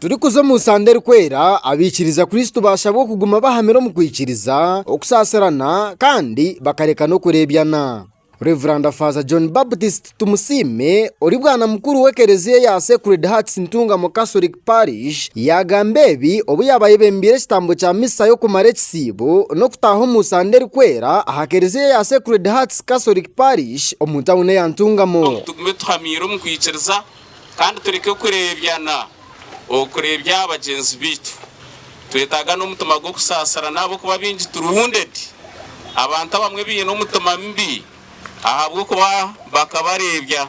Turikuza omu nsanda erikwera, abaikiriza Kristo bashabwa kuguma bahamire omu kwikiriza, okusaasirana kandi bakareka n'okureebyana. Rev. Faaza John Baptist Tumusiime ori bwana mukuru w'ekereziya eya Sacred Hearts Ntungamo Catholic. Parish yaagamba ebi obu yaabaire ebembeire ekitambo kya misa y'okumara ekisiibo n'okutaaha omu Sande Erikwera aha kereziya eya Sacred Hearts Catholic Parish omu tauni eya Ntungamo. Tugume tuhamiire omu kwikiriza kandi tureke kureebyana okureebya bagyenzi baitu. Twetaaga n'omutima gw'okusaasirana ahabw'okuba baingi turi wounded. Abantu abamwe baine omutima mubi ahabw'okuba bakabareebya.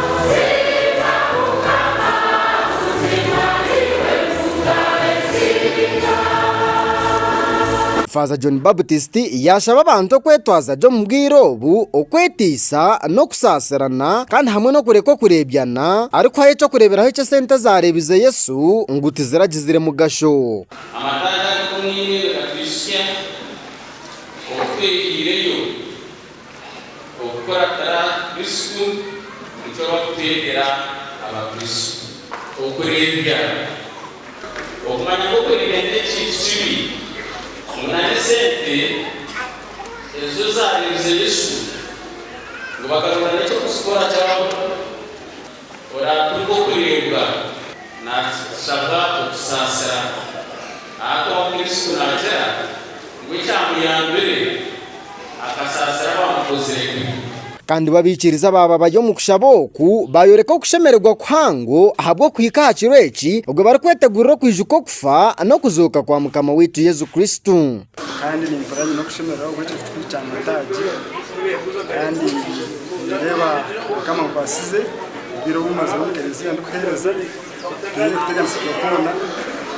Faaza John Baptist yaashaba abantu okwetwaza gye omu bwire obu, okwetiisa n'okusaasirana kandi hamwe n'okureka okureebyana, arikuhayo eky'okureeberaho eki esente ezaareebize Yesu ngu tiziragizire mugasho. Amataagi agatoniire gatwitsya obu twehaireyo. Okukuratira Kristo nikyo barikuteerera Abakristo. Okureebya, Okumanya ngu okureebya n'ekintu kibi, ngu nari esente ezo zaareebize Yesu, ngu bakaronda n'eky'okuzikora kyabura. Oraatunga okureebwa naashaba okusaasira. Aha kuba Kristo naagira ngu ekyamuyambire akasaasira abaamukozire kubi. Kandi b'abaikiriza baaba bari omu kushaba oku, baayoreka okushemererwa kuhango ahabw'okuhika aha kiro eki, obwe barikwetegurira okwijuka okufa n'okuzooka kwa Mukama waitu Yesu Kristo. Kandi nimpurira nyine okushemererwa ahabwekyo kitukuru kya Mataagi kandi nindeeba Mukama ankwasize obwire obu mazire omu kereziya ndikuhereza tihaine kuteganisibwa kwoona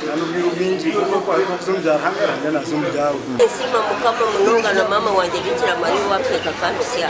kandi obwire obwingi nk'oku orikubaasa kuza omu bya Ruhanga, Ruhanga naaza omu byawe. Ninsiima Mukama munonga na maama wangye Bikira Maria owaakutekaateka akatutsya.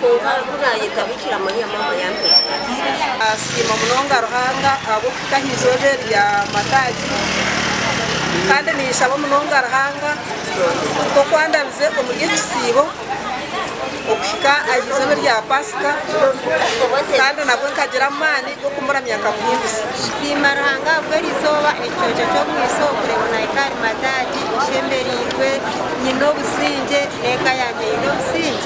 Kwonka ku naayeta Bikira Mariya Maama ya Ntwari. Naasiima munonga Ruhanga ahabw'okuhika aha izooba eri rya Mataagi, kandi ninshaba munonga Ruhanga nk'oku andabize omuri eki kisiibo okuhika aha izooba erya Paasika, kandi nabwo nkagira amaani g'okumuramya nkamuhimbisa. Nsiima Ruhanga ahabwa eri izooba, ekicweka ky'omwitsyo, okureeba naahika ahari Mataagi nshemereirwe, nyine obusingye, n'eka yangye eine obusingye.